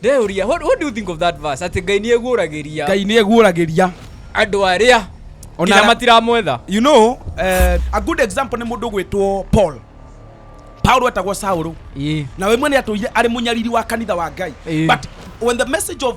ndeyũria what, what do you think of that verse atĩ ngai nĩ eguũragĩria ngai nĩ eguũragĩria andũ arĩa Ona nginya ara- matiramwetha you know uh, a good example nĩ mũndũ gwĩtwo paul paulo etagwo saũlũ Ĩĩ. na we mwene atũire arĩ mũnyariri wa kanitha wa ngai Ĩĩ. but when the message of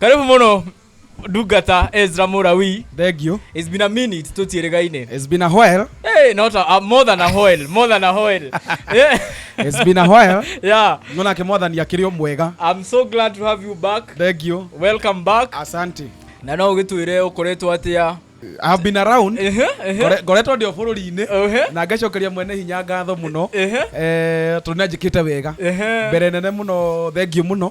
karibu muno ndungata ezra murawi Thank you. it's been a minute tutiĩrĩgaine It's been a while. hey, not a, a, more than a hoel more than a hoel yeah. It's been a while. yeah Nonake mwathani akĩrĩ o mwega. i'm so glad to have you back Thank you. welcome back Asante. na no ũgĩtwĩre ũkoretwo atĩa I have been around. Ehe, ehe, Ngore- Ngoretwo ndĩ o bũrũri-inĩ ehe, na ngacokeria mwene hinya ngatho mũno ehe, Eh, tondũ nĩanjĩkĩte wega ehe. mbere nene mũno thengiũ mũno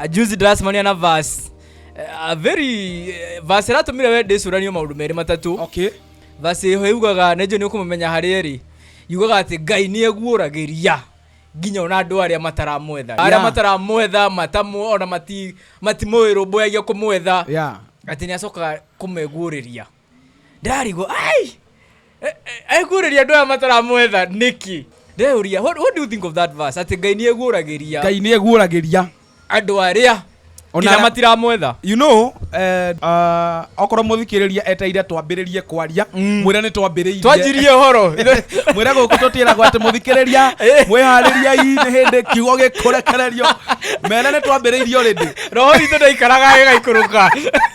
Ah, juzi ndĩracemania na vas a very eh, vas ĩratũmire we ndĩcũranio maũndũ merĩ matatũ okay vas ĩho yugaga nenjũ nĩ ũkũmũmenya harĩa ĩrĩ yugaga atĩ ngai nĩ eguũragĩria nginya ona andũ arĩa mataramwetha arĩa Yeah. mataramwetha matamu ona mati- matimũĩrũmbũyagia kũmwetha yeah atĩ nĩ acokaga kũmeguũrĩria ndarigwo ai ekũrĩria andå aya mataramwetha nĩki ndeuria what, what do you think of that verse atĩ ngai nĩ eguũragĩria ngai nĩ eguũragĩria andå arĩa Ona- nginya matiramwetha you know uh, uh, okorwo mũthikĩrĩria eteire twambĩrĩrie kwaria Mm. mwĩre nĩ twambĩrĩirie twanjirie å horo mwĩre gå kå tå tiragwo atä må thikä rä ria Eh. mwä harä riai nä hä ndä kiugo gä kå rekererio mere nä twambä rä irio rä ndä roho witå ndaikaraga ĩgaikũrũka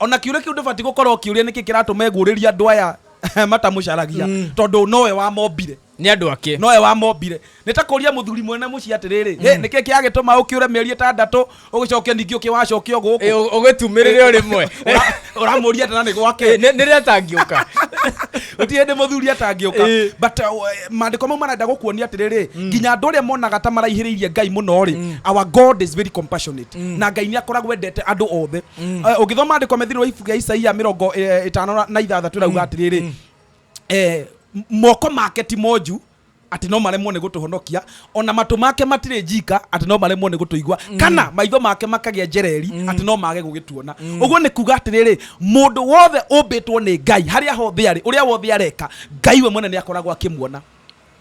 o na kiũria kĩu ndũbatiĩ gũkorwo ũkĩũria nĩkĩ kĩratũma egũrĩria andũ aya matamũcaragia mm. tondũ nowe wamombire nĩ andũ ake nowe wamombire nĩ ta kũria mũthuri mwene mũciĩ atĩrĩrĩ mm. nĩkĩ kĩagĩtũma ũkĩũre mĩeri ĩtandatũ ũgĩcoke ningĩ ũkĩwacoke o gũkũ ũgĩtumĩrĩre o rĩmwe ũramũria atana nĩ gwake eh, nĩ rĩrĩa atangĩũka ũti hĩndĩ mũthuri atangĩũka eh. but uh, maandĩko mau marenda gũkuonia atĩrĩrĩ mm. nginya andũ arĩa monaga ta maraihĩrĩirie ngai mũno rĩ mm. our god is very compassionate na ngai nĩ akoragwo endete andũ othe Eh, ũngĩthoma andĩko methirĩ wa ibuku rĩa isaia mĩrongo eh, ĩtano na- na ithathatũ ĩrauga atĩrĩrĩ eh, m- moko make ti monju atĩ no maremwo nĩ gũtũhonokia ona matũ make matirĩ njika atĩ no maremwo nĩ gũtũigua kana maitho make makagĩa njereri atĩ no mage gũgĩtuona ũguo nĩ kuga atĩrĩrĩ mũndũ wothe ũmbĩtwo nĩ ngai harĩa hothe arĩ ũrĩa wothe areka ngai we mwene nĩ akoragwo akĩmuona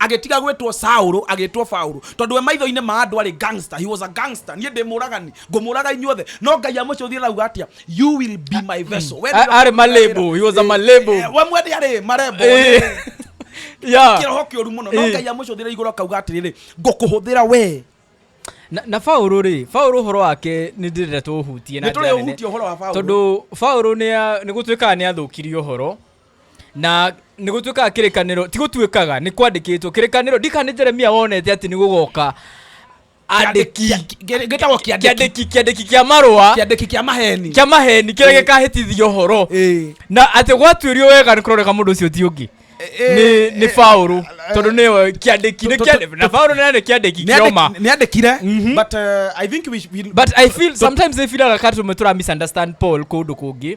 agĩtiga gwĩtwo Saul agĩtwo Paul tondũ we maitho-inĩ ma andũ arĩ gangster he was a gangster niĩ ndĩ mũragani ngũmũraga inyuothe no ngai amũcũthie rauga atia you will be my vessel we A- arĩ malebo he was a malebo Eh, we mwende arĩ marembo Eh. yeah. kĩroho kĩũru mũno no Eh. ngai amũcũthire igũrũ akauga atĩrĩrĩ ngũkũhũthĩra we na, na Paulo rĩ Paulo ũhoro wake nĩ ndĩrenda tũũhutie na Nĩ njĩra nene. tũrĩũhutie ũhoro wa Paulo. tondũ Paulo nĩ a- nĩ gũtuĩkaga nĩ athũkirie ũhoro na nä gå tuä kaga kä rä kanä ti gå tuä kaga nä kwandä kä two kä rä kanä ndika nä jeremia wonete atä nä gå goka andĩki gĩtagwo kĩandĩki kĩandĩki kĩandĩki kĩa marũa kĩandĩki kĩa maheni kĩa maheni kĩrĩa Ĩĩ. gĩkahĩtithia ũhoro Ĩĩ. na atĩ gwatuĩrio wega nĩ kũroreka mũndũ ũcio ti ũngĩ Ĩĩ, nĩ nĩ ĩĩ, Paulo tondũ nĩwe kĩandĩki nĩ Tũ- tũ- kĩandĩki na Paulo nĩ nĩ kĩandĩki Nĩandĩki- kĩoma nĩandĩkire Mhm. but uh, i think we, we but i feel sometimes i feel like katũ tũra misunderstand paul kũndũ kũngĩ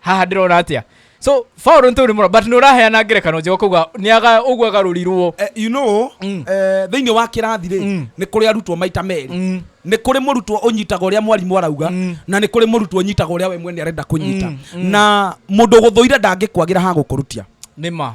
haha ndĩrona atĩa so faul nĩ tũrĩ mũno but nĩ ũraheana ngerekano njega kũguo nĩaga ũguo agarũrirwo Eh, you know Mm. eh, thĩinĩ wa kĩrathi rĩ Mm. nĩ kũrĩ arutwo maita merĩ Mm. nĩ kũrĩ mũrutwo ũnyitaga ũrĩa mwarimũ arauga Mm. na nĩ kũrĩ mũrutwo ũnyitaga ũrĩa we mwene arenda kũnyita Mm, mm. na mũndũ ũgũthũire ndangĩkwagĩra ha gũkũrutia nĩ ma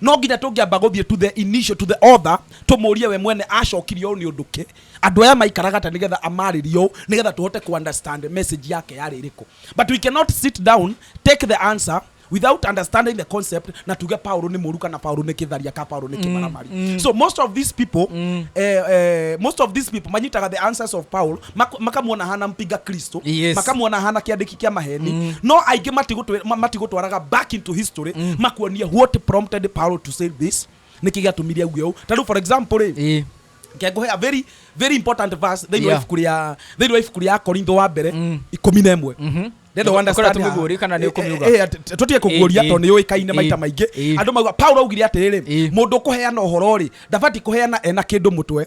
No nginya tũngĩamba gũthiĩ to the initial, to the author, tũmũrie we mwene acokirie ũũ nĩ ũndũ kĩ? Andũ aya maikaraga atĩa nĩgetha amarĩrie ũũ nĩgetha tũhote kũ understand message yake yarĩ ĩrĩkũ. But we cannot sit down, take the answer without understanding the concept na tuge Paul nĩ mũru kana Paul nĩ kĩtharia kana Paul nĩ kĩmaramari. So most of these people, eh, eh, most of these people manyitaga the answers of Paul Mak- makamuona hana mpinga kristo Yes. makamuona hana kiandiki kia maheni mm. no aingi matigutwe- ma- matigutwaraga back into history mm. makuonie what prompted paul to say this niki giatumirie auge u tariu for example ri Eh. ngenguhe a very very important verse thĩinĩ wa Yeah. ibuku rĩa thĩinĩ wa ibuku rĩa korintho wa mbere Mm. ikũmi na ĩmwe Mhm. Ndenda Ũkorwo understand haha. tũmĩguũrie kana nĩ Eh, ũkũmiuga? eh, eh, tũ- tũtige kũguũria Eh, eh. tondũ nĩ ũĩkaine maita Eh, maingĩ eh. andũ mauga paulo augire atĩrĩrĩ Eh. mũndũ kũheana ũhoro-rĩ ndabati kũheana ena kĩndũ mũtwe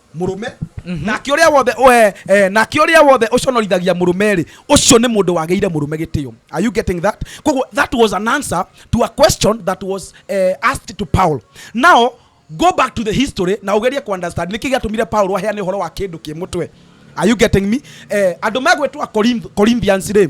mũrũme mhm. nake ũrĩa wothe eh, eh, nake ũrĩa wothe ũconorithagia mũrũme-rĩ ũcio nĩ mũndũ wagĩire mũrũme gĩtĩo are you getting that koguo that was an answer to a question that was uh, asked to paul now go back to the history na ugerie ku understand niki giatumire Paulo aheane horo wa kindu ki mutwe are you getting me eh andu megwitwa Corinthians ri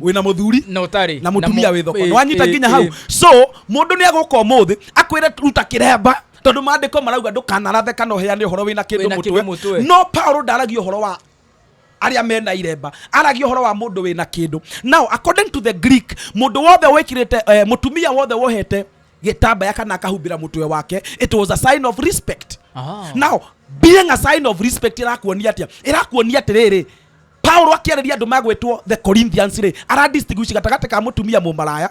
wina muthuri na utari na mutumia wi thoko eh, wanyita eh, nginya hau eh. so mundu ni aguka umuthi akwire ruta kiremba tondu mandiko marauga ndukanarathe kana uheane uhoro wina kindu mutwe no paulo ndaragia uhoro wa aria mena iremba aragia horo wa mundu wina kindu now according to the greek mundu wothe wikirite uh, mutumia wothe wohete gitambaya kana akahumbira mutwe wake it was a sign of respect oh. now being a sign of respect irakuonia atia irakuonia atiriri paulo akĩarĩria andũ magwĩtwo the corinthians rĩ aradistinguish gatagatĩ ka mũtumia mũmaraya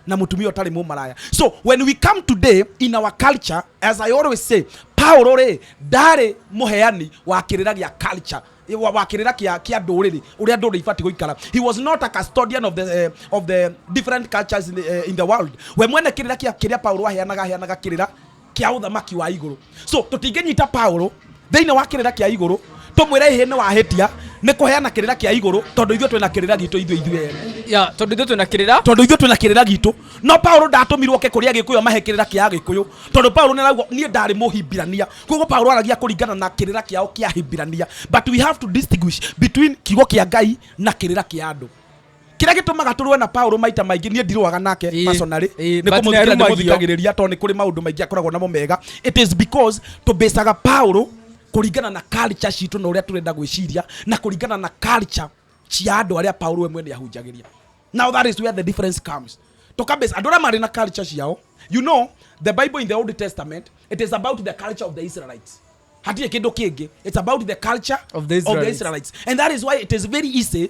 na mũtumia ũtarĩ mũmaraya so when we come today in our culture as i always say paulo rĩ ndarĩ mũheani wa kĩrĩra gĩa culture wa wa kĩrĩra kĩa kĩa ndũrĩrĩ ũrĩa ndũrĩrĩ ibatiĩ gũikara he was not a custodian of the, eh, of the different cultures in the, eh, in the world we mwene kĩrĩra kĩa kĩrĩa paulo aheanaga aheanaga kĩrĩra kia uthamaki wa iguru so tutinginyita paulo thiini wa kirira kia iguru tumwire ihe ni wahitia ni kuheana kirira kia iguru tondu ithuĩ twina kirira gitu ithuĩ ithuĩ ene ya tondu ithuĩ twina kirira tondu ithuĩ twina kirira gitu no paulo ndatumirwo ke kuria gikuyu amahe kirira kia gikuyu tondu paulo ni arauga nie ndari muhibirania koguo paulo aragia kuringana na kirira kiao kia hibirania but we have to distinguish between kiugo kia ngai na kirira kia andu kĩrĩa gĩtũmaga tũrũe na paũlũ maita maingĩ niĩ ndirũaga nake Ĩĩ. personally Ĩĩ, nĩ but kũmũthikĩrĩria nĩarumagia. ndĩmũthikagĩrĩria tondũ nĩ kũrĩ maũndũ maingĩ akoragwo namo mega it is because tũbĩcaga paũlũ kũringana na culture citũ na ũrĩa tũrenda gwĩciria na kũringana na culture cia andũ arĩa paũlũ we mwene ahunjagĩria now that is where the difference comes tũkabĩca andũ arĩa marĩ na culture ciao you know the bible in the old testament it is about the culture of the israelites hatirĩ kĩndũ kĩngĩ it's about the culture Of the Israelites. israelites and that is why it is very easy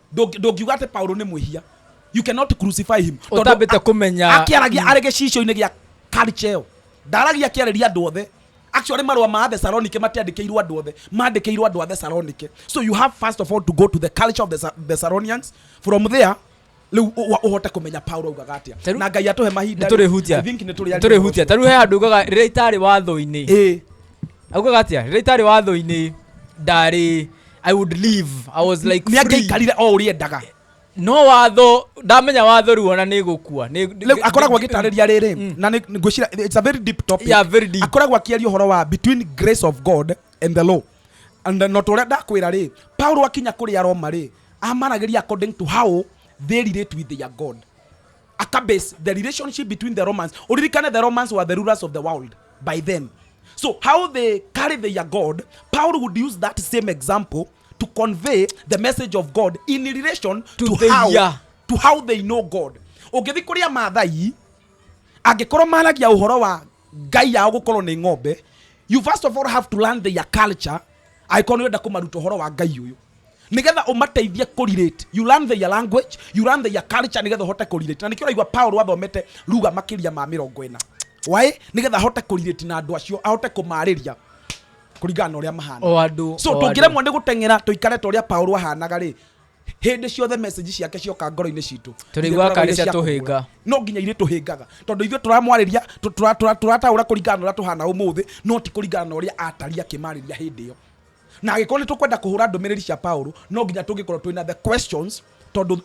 Ndũngi- ndũngiuga atĩ paulo nĩ mwĩhia you cannot crucify him Tondũ Ũtambĩte a- kũmenya- akĩaragia arĩ gĩcicio-inĩ gĩa karicheo ndaragia akĩarĩria andũ othe actually marũa ma athesalonike matiandĩkĩirwo andũ othe mandĩkĩirwo andũ a thesalonike so you have first of all to go to the culture of the Thesa- thessalonians from there rĩu ũ- ũ- ũhote kũmenya paulo augaga atĩa Tarĩu- na ngai atũhe mahinda rĩ, nĩtũrĩhutia I think nĩtũrĩaria nĩtũrĩhutia ũhoro tarĩu he handũ ugaga rĩrĩa itarĩ watho-inĩ ũcio. Ĩĩ. augaga atĩa rĩrĩa itarĩ watho-inĩ ndarĩ i would leave i was like nä free. angäikarire o å rä endaga no watho ndamenya watho riu ona nä gå kua rä u akoragwo agä tarä ria rä rä na nĩ- ngwĩciria it's a very deep topic Yeah, very deep. akoragwo akĩaria ũhoro wa between grace of god and the law and then not ũrĩa ndakwĩra rĩ paulo akinya kũrĩ aroma rĩ amaragĩria according to how they relate with their god akabase the relationship between the romans uririkane the romans were the rulers of the world by then so how they carry their god paul would use that same example to convey the message of god in relation to, To the- how, yeah. to how they know god ũngĩthi kũrĩ amathai angĩkorwo maragia ũhoro wa ngai yao gũkorwo nĩ ng'ombe you first of all have to learn their culture angĩkorwo nĩwenda kũmaruta ũhoro wa ngai ũyũ nigetha umateithie kurirate you learn their language you learn their culture nigetha uhote kurirate na nikio raigwa Paul athomete ruga makiria ma mirongo ina why nigetha ahote kurirate na andu acio ahote kumariria kuringana na uria mahana o andu so tungiremwo ni guteng'era tuikare ta uria Paul ahanaga ri hindi ciothe message ciake cioka ngoro-inĩ citũ Tũrĩiguaga karĩ cia tũhĩnga. no nginya irĩ tũhĩngaga tondũ ithuĩ tũramwarĩria tũ- tũra- tũra- tũrataũra kũringana na ũrĩa tũhana ũmũthĩ no ti kũringana na ũrĩa atari akĩmarĩria hĩndĩ ĩyo Na agĩkorwo nĩ tũkwenda kũhũra ndũmĩrĩri cia Paulo, no nginya tũngĩkorwo twĩ na the questions, tondũ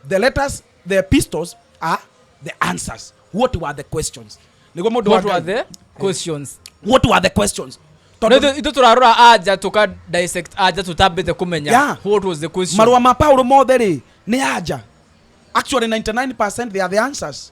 the letters, the epistles are the answers. What were the questions? Nĩguo mũndũ wa What were Ngai. the questions? What were the questions? No, Tondũ ithu- ithu turarora anja tuka dissect anja tutambite kumenya Yeah. what was the question marũa ma Paulo mothe rĩ nĩ anja. Actually 99% they are the answers.